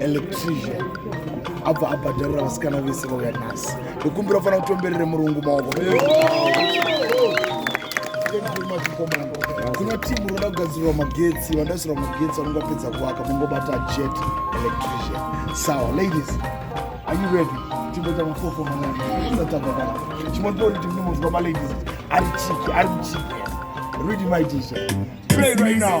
electrician abva abhadharira vasikana vese vauya nhasi ndokumbira ufanira kutomberere murungu maoko kuna timu roda kugadzirira magetsi vandaisirwa magetsi vanenge vapedza kuvaka mongobata jet electrician sawa ladies are you ready timboita mafoko manaaatavaa chimotori timu nemunzwa maladies ari chiki ari chiki ready my teacher play right now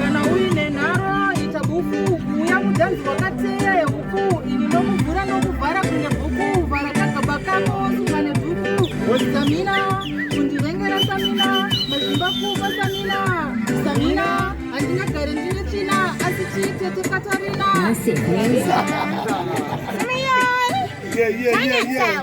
kana uine nharo ita buku kuuya mudanzi wakateya yehuku ini nokuvhura nokuvhara kunge bhuku vhara kagaba kako sunga nebhuku samina kundivengera samina mazimba kuva samina samina handingagare ndine tsvina asi chiitete katarina Yeah, yeah, yeah, yeah.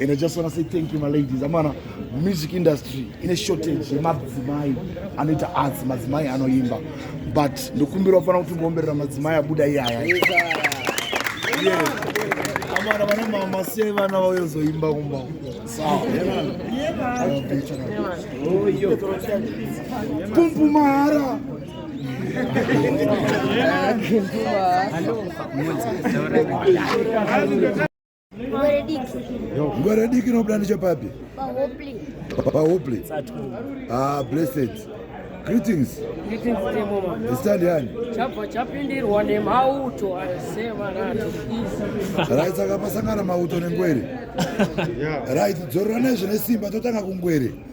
And I just want to say thank you, my ladies. I'm on a music industry in a shortage. Madzimai anoita arts, madzimai anoimba. But ndokumbira kufana kuti ngomberera madzimai abuda iyaya. Amana vana mama sei vana vayozoimba kumba. Sawa. Pumpu mahara. Pumpu mahara. Ngwere diki. Ngwere diki nobuda nechepapi? Pahopley. Pahopley. Ah, blessed. Greetings. Greetings to mama. Stand yani. Chapa chapindirwa nemauto asema nacho. Right saka pasangana mauto nengwere. Right dzorora nezve nesimba totanga kungwere.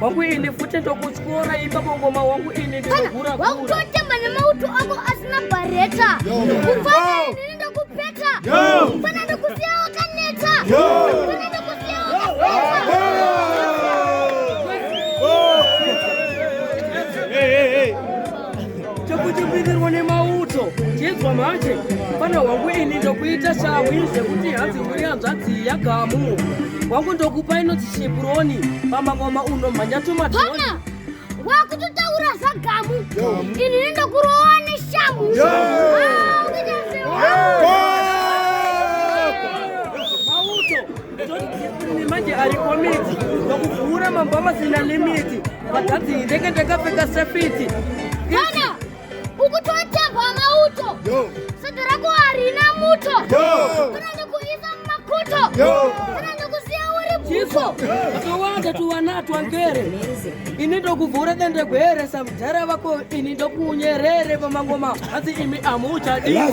wangu ini futi ndokutyora imba mangoma wangu ini ndinogura gura wakutotemba nemauto ako asina bareta kufana ini ndokupeta kufana ndokusiya wakaneta kufana ndokusiya wakaneta chekuchimbikirwa nemauto chedzwa manje pana wangu ini ndokuita shamwi zvekuti hanzi mhuri hanzvadzi yagamu wangu ndokupa inoti shipuroni pamangoma uno mhanya tumatoni wakutotaura zvagamu ini nendokurowa neshamhu yeah. manje ari komiti vakuvhura mambo amasina limiti vakadzi ndenge ndakapfeka sefiti kana ukutotapwa mauto sata rako harina muto kana nekuisa mumakuto kana nekusiya uri bvuso akawanda tuwana twangere ini ndokuvhura dende gwere samudhara vako ini ndokunyerere pamangoma hanzi imi amuchadiwa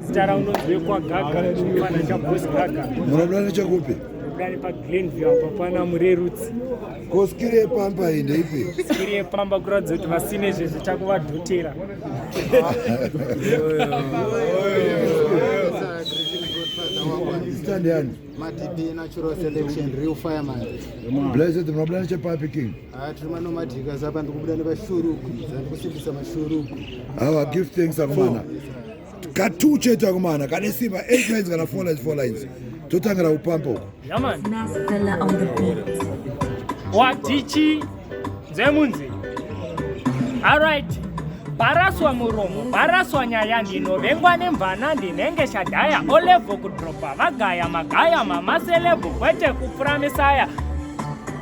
Zita rangu ndonzi Gaga, chimwana chaBoss Gaga. Munoda nechakupi? Ndani paGlenview apa pana Murerutsi. Ko skiri yepamba iyi ndeipi? Skiri yepamba kuratidza kuti vasine zvezvo chakuvadhotera. Stand yani. Matipi natural selection real fireman. Blessed, mnabulana chepapi king? Ah, tiri manomadhika zapa ndikubuda nevashuruku zandikusimbisa mashuruku awa ah, give thanks akomana katu chete akomana kane simba eight lines kana four lines four lines totangira kupampa uko wadichi nzemunzi arit baraswa muromo baraswa nyaya ndinovengwa nemvana ndinenge shadhaya olevo kudropa vagaya magaya mamaselebhu kwete kupfura misaya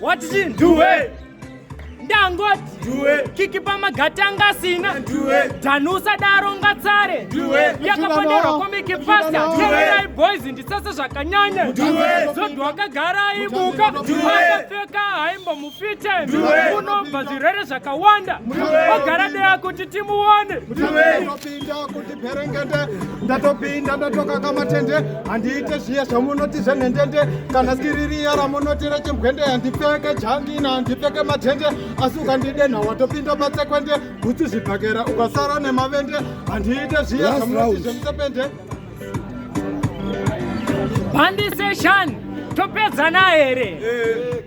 What is it? Do it. Dangot. Do it. Kiki pa magatanga sina. Do it. Danusa daro ngatsare. Do it. Yaka pa daro komi ki pasta. Do it. Boys ndi sasa zakanyanya. Do it. Zodo waka gara ibuka. Do it. Waka feka haimbo mufite. Do it. Uno bazirere zakawanda. Do it. Wagara dea kuti timu one. Do it. Perengete ndatopinda ndatoka kamatende handiite zviya zvamunoti zvenhendende kana skiririya ramunoti rechimbwende handipfeke jangina handipfeke matende asi ukandidenha watopinda patsekwende bhutsu zvibhakera ukasara nemavende handiite zviya zvamunoti zvemusepende bandiseshani topedzana here eh.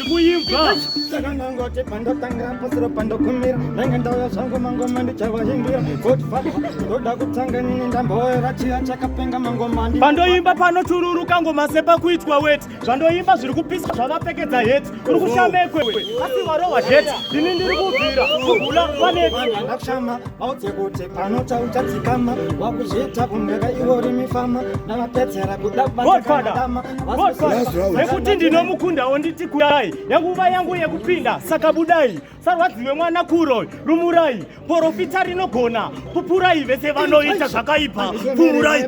kuimba saka ndangoti pandotangira pasiro pandokumira ndenge ndauya zvangu mangoma ndichavahimbira koti faa ndoda kutanga nini ndamboera chiya chakapenga mangoma ndi pandoimba panochururuka ngoma sepakuitwa weti zvandoimba zviri kupisa zvavapfekedza heti uri kushamekwe asi varohwa heti ndini ndiri kubvira kugula paneti ndakushama maudze kuti Panota uchadzikama wakuzviita kumheka iwe uri mifama ndavapedzera kudabaaaama nekuti ndinomukundawo nditi kudai nenguva yangu yekupinda saka budai sarwadziwe mwana kuro rumurai porofita rinogona pupurai vese vanoita zvakaipa pumurai